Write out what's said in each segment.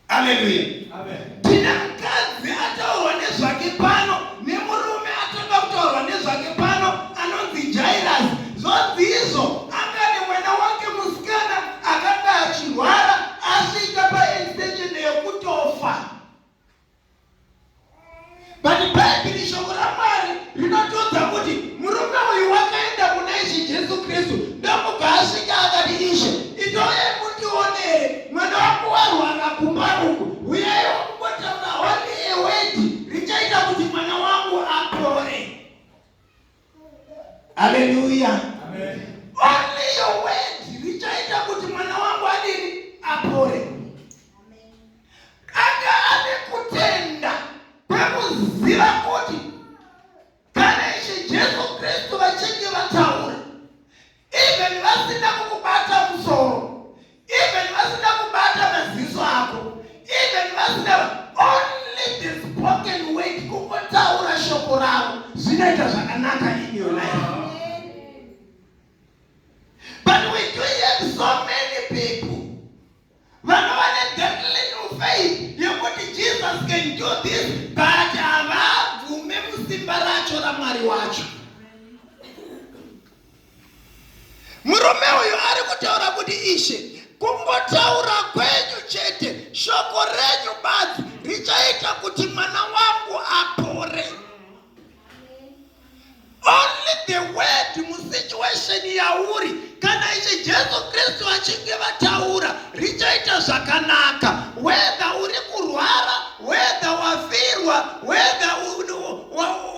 Haleluya. Tina mukadzi ataurwa nezvake pano nemurume atanga kutaurwa nezvake pano anonzi Jairus. Zvonzi izvo anga nemwana wake musikana akanga achirwara asvika paextension yekutofa. But Bhaibheri shoko raMwari rinotiudza kuti murume uyu wakaenda kuna Ishe Jesu Kristu ndokubva asvika akati, Ishe, itoyai mundionere mwana wangu warwara kumba uku, huyai wakungotaura only a word richaita kuti mwana wangu apore. Haleluya. Amen. Only your word richaita kuti mwana wangu adini apore. Anga ane kutenda kwekuziva kuti kana Ishe Jesu Kristu vachinge vataura even vasina kukubata musoro even vasina kubata maziso ako even vasina only the spoken word kungotaura shoko ravo zvinoita zvakanaka in your life vanova nethat little faith yekuti jesus can do this but havabvume musimba racho ramwari wacho murume uyu ari kutaura kuti ishe kungotaura kwenyu chete shoko renyu badzi richaita kuti mwana wangu apore Only the word musituation yauri kana ichi Jesu Kristu vachinge vataura richaita zvakanaka whether uri kurwara whether wafirwa whether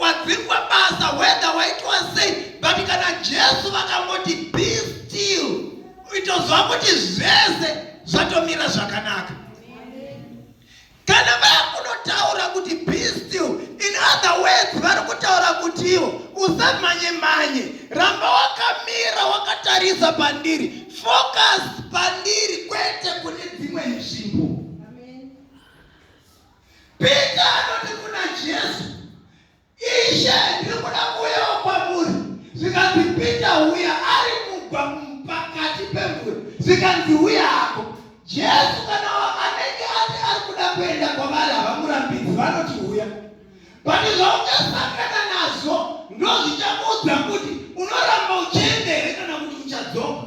wadzingwa basa whether waitwa sei but kana Jesu vakangoti be still itozwa kuti zvese zvatomira zvakanaka Kana vakunotaura kuti be still in other words vari kutaura kuti ivo usamhanye mhanye ramba wakamira wakatarisa pandiri focus pandiri kwete kune dzimwe nzvimbo pita anoti kuna jesu Ishe, ndiri kuda kuuyawo kwamuri. Zvikanzi, Pita, uya. Ari mugwa pakati pemvura, zvikanzi, Uya hako. Jesu kana anenge ati ari kuda kuenda kwavari havamurambidzi, vanoti uya. Pane zvauchasangana nazvo ndozvichakuudza kuti unoramba uchienda here kana kuti uchadzoka.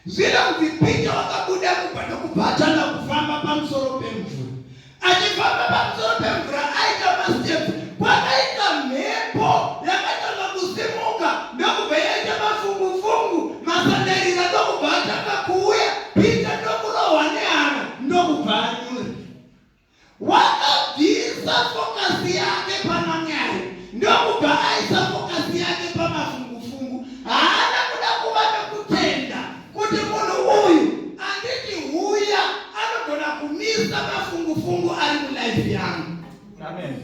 Zvinonzi Pita wakabuda mumba ndokubva atanga kufamba pamusoro pemvura. Achifamba pamusoro pemvura aita masitepu kwakaita mhepo yakatanga kusimuka ndokubva yaita mafungufungu masandarira ndokubva atanga kuuya Pita ndokurohwa nehana ndokubva anyura. Wakabvisa fokasi yake pana Mwari ndokubva aisa fokasi yake pamafungufungu. Haana kuda kuva nokutenda kuti munhu uyu anditi huya anogona kumisa mafungufungu ari mulife yangu. Amen.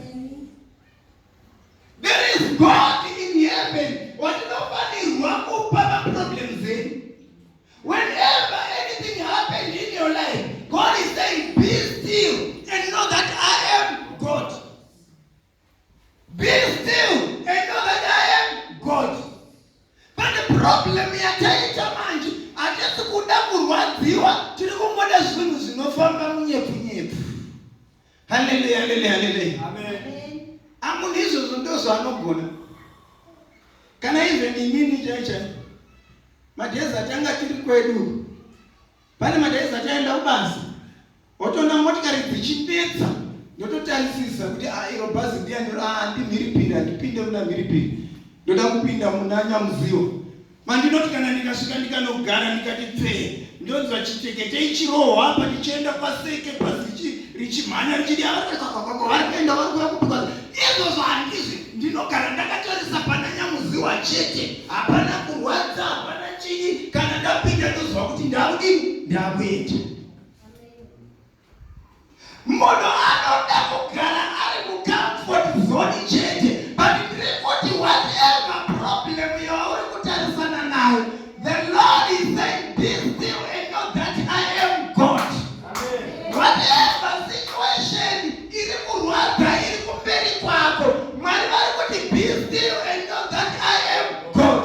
There is God in heaven watinofanirwa kupa maproblems edu. Whenever anything happens in your life, God is saying, be still and know that I am God. Be still and know that I am God. But the problem yataita manje hatisi kuda kurwadziwa, tiri kungoda zvinhu zvinofamba munyepfu. Haleluya, haleluya, haleluya. Amen. Amuna izvozvo ndozvo anogona. Kana even inini chaicha madhezi atanga tiri kwedu. Pane madhezi ataenda kubasa. Wotoona motikari dzichipedza ndototarisisa kuti ah, iro bhazi ndiya ndiro ah, ndimhiripiri handipinde muna mhiripiri ndoda kupinda muna nyamuziwo Mandinoti kana ndikasvika ndikanogara ndikati pfee, ndonzwa chitekete ichirohwa apa ndichienda paseke pasi richimhanya richidi varikuenda varikuya kubuka izvozvo handizvi ndinogara ndakatarisa pana nyamuziwa chete hapana kurwadza hapana chii kana ndapinda ndozwa kuti ndakudini ndakuenda Munhu anoda kugara ari mucomfort zone chete but ndiri kuti whatever problem yauri kutarisana nayo the lord is saying be still and know that i am god whatever situation iri kurwadza iri kumberi kwako mwari vari kuti be still and know that i am god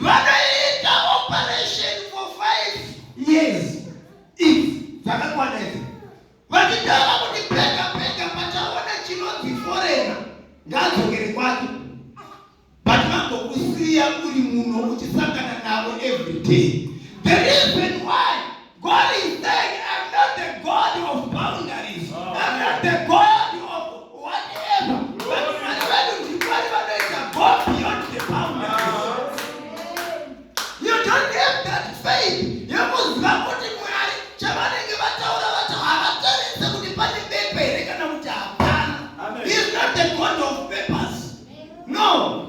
vanoita operation for five years if dzakakwana idzi vachitaura kuti pega pega pachaona chinonzi forena ngaadzokere kwake but vangokusiya uri muno uchisangana navo every day God is saying, I'm not the God of boundaries. Oh. I'm not the God of whatever. But Mwari vedu ndiMwari vanoita go beyond the boundaries. You don't have that faith yekuziva kuti Mwari chavanenge vataura vati havatarise kuti pane bepa here kana kuti hapana. He is not the God of papers. No.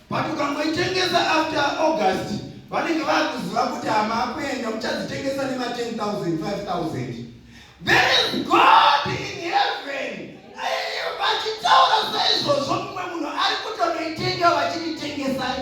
But ukangoitengesa after August vanenge vakuziva kuti hamakuenda muchadzitengesa nema 10,000 5,000 There is God in heaven vachitaura saizvozvo mumwe munhu ari kutonoitenga vachititengesai